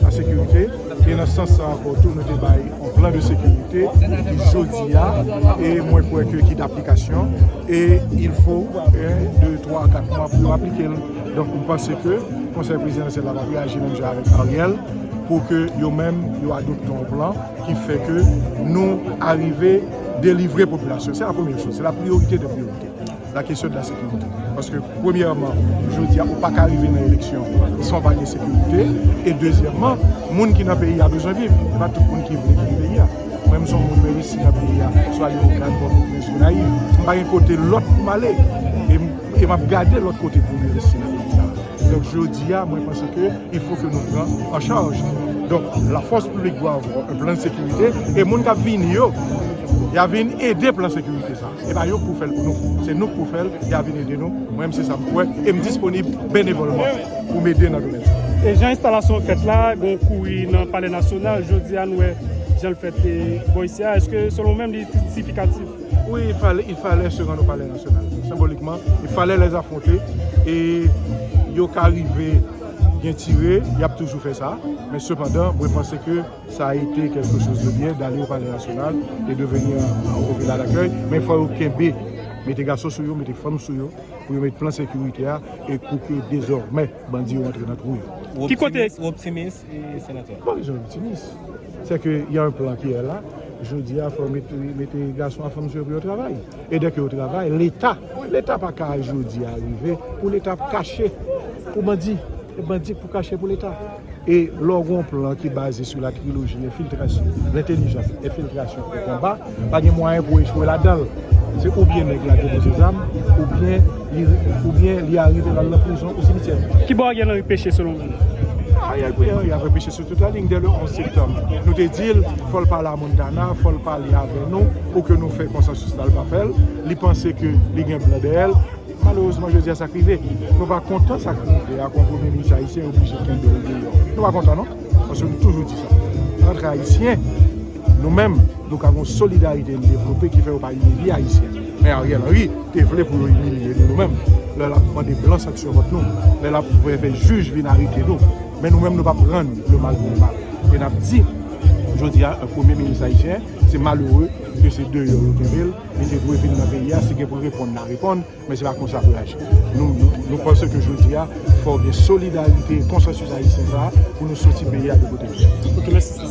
nan sekirite e nan sans sa ankò tou nou te bay yon plan de sekirite ki jodi a e mwen kwè ke ki daplikasyon e il fo 1, 2, 3, 4 mwa pou yo aplike l donk m panse ke konsèy prezidansyèl la va reyaji menm jan avèk Ariel pou ke yo menm yo adopte yon plan ki fè ke nou arive delivre popilasyon se la premye chos se la priyorite de priyorite. La kesyon de la sekirite. Paske premyèman, jodi a ou pa ka rive nan eleksyon san w pa gen sekirite. E dezyèman, moun ki nan peyi a bezwen viv. E pa tout moun ki vle kite peyi a. Mwen m se yon moun mwen resi nan peyi a. M swa ale Okap, Pòtoprens, Gonayiv. M pa gen kote lòt pou m ale. E m ap gade lòt kote pou m envesti nan peyi sa a. Donk jodi a mwen panse ke il fo ke nou pran an chaj. Donk la fòs piblik dwa avwa un plan de sekirite. E moun k ap vini yo, y a vin ede plan sekirite sa. Se pa yo k pou fè l pou nou, se nou k pou fè l, y a vin ede nou, mwen menm se sa m kwè e m disponib benevòlman pou m ede nan domèn sa. E jan enstalasyon an fèt la, gen kouri nan Palè Nasyonal, jodi a nou wè jan l fèt bò isi a, èske selon ou menm li sifikatif? Wi, il falè se rann o Palè Nasyonal, senbolikman, il falè lè afwonte e yo ka rive gen tire, y ap toujou fè sa, men sepandan mwen panse ke. Ça a été quelque chose de bien d'aller au palais national et de venir au villa d'accueil, men fò yo kenbe, mete gason sou yo, mete fanm sou yo, pou yo met plan sekirite a e pou ke dezòmè bandi yo antre nan twou yo. Ou optimis, Senatè? Mpa bezwen optimis. Sè ke y a un plan ki è la, jodi a fò yo mete gason ak fanm sou yo pou yo travay. E dè ke yo travay, Leta, Leta pa ka jodi a rive pou Leta ap kache pou bandi, e bandi k pou kache pou Leta. E lè w gen yon plan ki baze sou la triloji enfiltrasyon, lentelijans, enfiltrasyon e konba, pa gen mwayen pou w echwe ladan l. Se oubyen nèg la depoze zam, oubyen li arive la l nan prizon ou simityè. Ki bò Ariel Henry peche selon ou? Ariel Henry ap repeche sou tout la liy dè le 11 septanm. Nou te di l fò l pale a Montana, fò l pale avè nou pou ke nou fè konsansis la l pa fè l. Li panse ke li gen blan dèyè l. Malerezman jodi a sa k rive. Nou pa kontan sa k rive ak yon premye minis ayisyen yo oblije kenbe l deyò. Nou pa kontan non. Paske m toujou di sa. Antre ayisyen, nou menm nou ka gen yon solidarite n devlope ki fè yo pa imilye ayisyen. Men Ariel Henry te vle pou yo imilye nou nou menm lè l ap mande blan sanksyon kont nou, lè l ap vle fè jij vin arete nou. Men nou menm nou p ap rann le mal pou le mal. E n ap di jodi a premye minis ayisyen se malere ke se deyò yo kenbe l. Li te dwe vin nan peyi a, si gen pou l reponn la reponn, men se pa konsa pou l aji. Nou panse ke jodi a, fò gen solidarite, konsansis ayisyen sa a, pou nou soti peyi a de kote li ye.